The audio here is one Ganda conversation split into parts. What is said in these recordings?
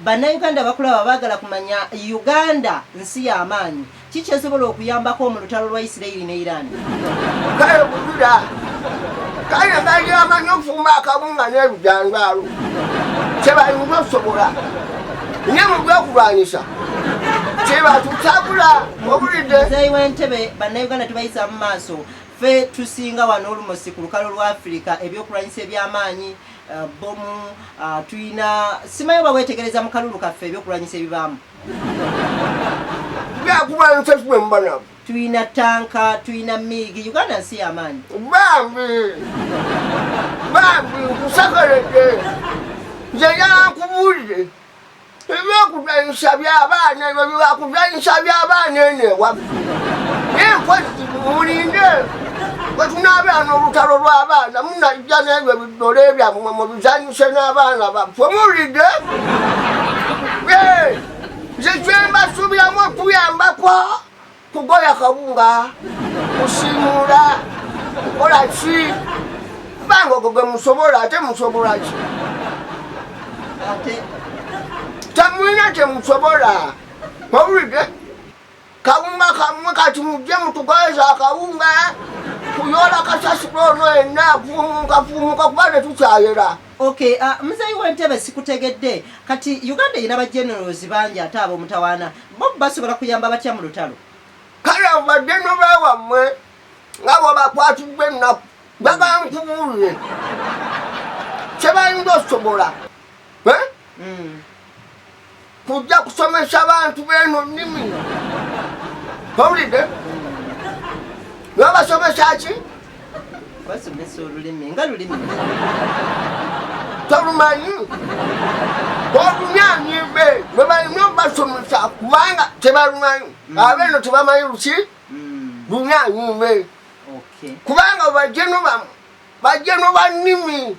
Bannayuganda bakulaba baagala kumanya Uganda nsi y'amaanyi ki kyesobola okuyambako mu lutalo lwa Isirairi ne Iran. Kale kujuda kale bali amanyi okufumba akabunga n'ebijangaalo kyebayinza okusobola nye mu byokulwanyisa kyebatutabula obulidde. Muzeeyi w'entebe bannayuganda tubayisa mu maaso ffe tusinga wano olumosi ku lukalo lwa Afirika ebyokulwanyisa eby'amaanyi Uh, bomu uh, tuyina simayo oba wetegereza mu kalulu kaffe ebyokulwanyisa ebibaamu tuyina tanka tuyina miigi uganda nsi yamaanyi bambi bambi nkusekeredde nze yankubulire ebyokuzanyisa byabaana ebyo byakuzanyisa byabaana ene waffe naye mpozi mulinde wetunaabera n'olutalo lw'abaana munajja n'ebyo bidole byammwe mubizanyise n'abaana baffe mulide nze kyembasuubiramu okuyambako Kugoya kawunga, kusimuula, kukola ki? Kubanga ogwo gwe musobola ate musobola ki? Temulina kye musobola. Owulidde? Kawunga kamwe kati mujje mutugoyeza akawunga kuyoola kasasiro ono yenna kuumuka kuumuka kuba tetukyayera. Okay, uh, muzeeyi w'entebe sikutegedde kati Uganda erina ba generals bangi ate ab'omutawaana Bo basobola kuyamba batya mu lutalo? Kale abo baddeno ba wammwe nga bwebakwatiddwa ennaku babankubuulire kyebayinza osobola eh? hmm. kujja kusomesa bantu beeno nnimi owulidde hmm. nabasomesa ki basomesa olulimi nga lulimi tolumanyi olumyanyi be lwe balina obasomesa kubanga tebalumanyi mm. abeeno tebamanyi luki mm. lumyanyi be kubanga bajeno bamu bajeno bannimi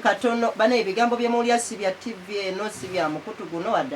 katono bana ebigambo byemuwulira si bya tv eno si bya mukutu guno wadde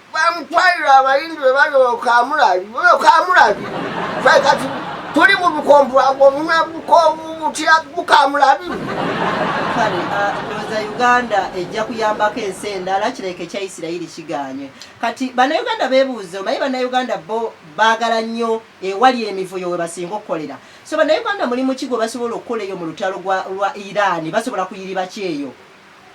bamutwalira abayindi be bali okamulabi okamulabi fe kati tuli mu bukombulanga omunwe butya bukamulabi kale ah, ndowooza uganda ejja kuyambako ensi endala kireke kya isirayiri kiganye kati bannayuganda bebuuze omanyi bannayuganda bo baagala nnyo ewali emivuyo we basinga okukolera so bannayuganda mulimu ki gwe basobola okukola eyo mu lutalo lwa iraani basobola kuyiriba kyeyo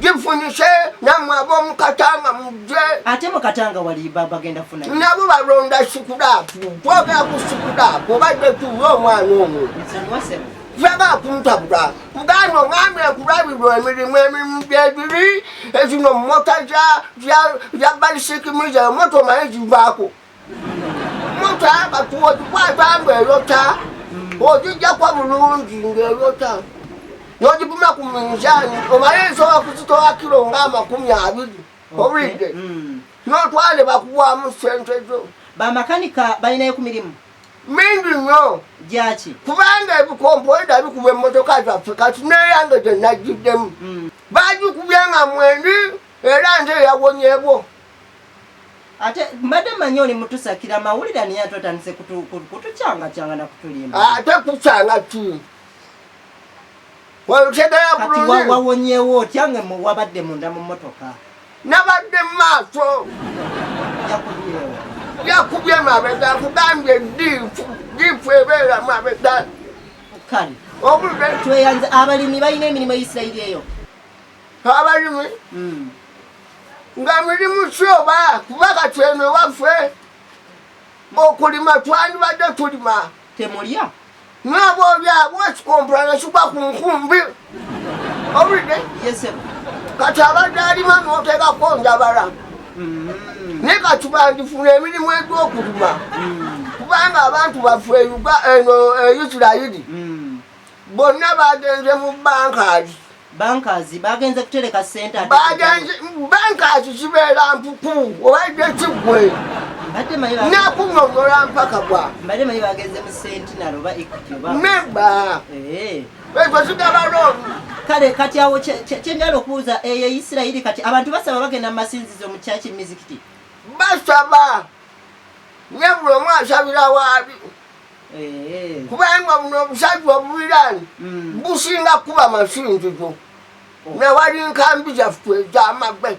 gifunyise namwe abomukatanga mujje ate mukatanga wali baba genda funa nabo balonda sukulapu twogera ku sukulapu obadde tuwa omwana omu yaba kuntabula muganda omwami ekulabirwa emirimu emirimu gyebiri ezino mota za balisikimiza emota omaye zivaako muta kati ogikwata nga erota ogijjako bulungi ngaerota nogipima ku minzaani omale nsobola kuzitola kiro nga amakumi abiri obulidde mm. notwale bakuwamu sente zo bamakanika balinayo ku mirimu mingi nnyo gyaki kubanga ebikompoida bikuba emmotoka zaffe kati neyange gyenajjiddemu mm. bagikubye nga mwendi era nze yawonyebwo Ate mbadde manyi oli mutusakira mawulire ani yatu otandise kutukyanga kyanga na kutulimba. Ah, ate kukyanga ki? Walutegera bulungi. Kati wawonyewo otya nga wabadde munda mu motoka. Nabadde mu maaso. Yakubyewo. Yakubye mabega akugambye diifu diifu ebeera mabega. Kale. Obulwe. Tweyanze abalimi balina emirimu Isirayiri eyo. abalimi hmm. nga mirimu kyoba kuba kati eno ewaffe okulima twandibadde tulima temulya naba olyabwe ekikompula nekigwa ku nkumbi obulidde kati abadde alima noteekako njabala hmm. naye kati bandifuna emirimu egyokulima hmm. kubanga abantu baffe eno e isirayiri bonna bagenze mu bankazi bankazi bagenze kutereka sente bankazi kibeera mpuku obaidde kiggwe nakunyonyola mpaka bwa nemba eh. ekyo kigaba looni kale kati awo kyenjala okubuuza eyo eh, isirayiri kati abantu basaba bagenda mu masinzizo mu kyaki mizikiti basaba nebuli omu asabira waabi kubanga buno obusajja obubiraani mm. businga kuba masinzizo newali nkambi zaffe ezamagwe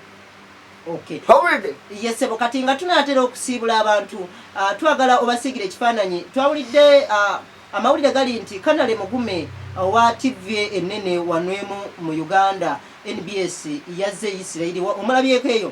yesebo kati nga tunatera okusiibula abantu ah, twagala obasiigira ekifaananyi twawulidde ah, amawulire gali nti kanale mugume owa ah, tv enene wanwemu mu uganda nbs yazze isirairi omulabyeko eyo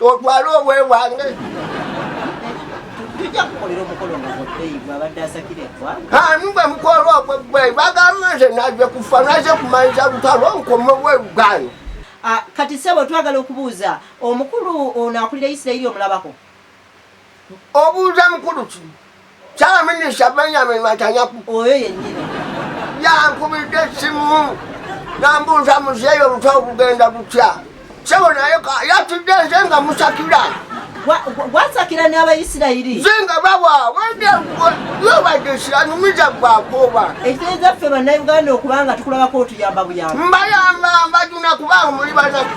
otwale obwe bwange anugwe mukolo ogwe gwe bagamba nze naje kufa naje kumaliza lutalo nkoma obwe bwange ah, kati sebo twagala okubuuza omukulu ono akulira isirairi omulabako obuuza mukulu ki kyaminisita benyamin matanyaku oyo yenyini yankubidde essimu nambuuza muzeeyi oluta obugenda butya sebo naye yatudde nze nga musakira gwasakira n'abayisirayiri ze nga bawa wendeyobadde siranumiza gwakooba ekitegeeza ffe bannayuganda okuba nga tukulabako otuyamba buyamba mbayamba mbajuna kubanga muli banaku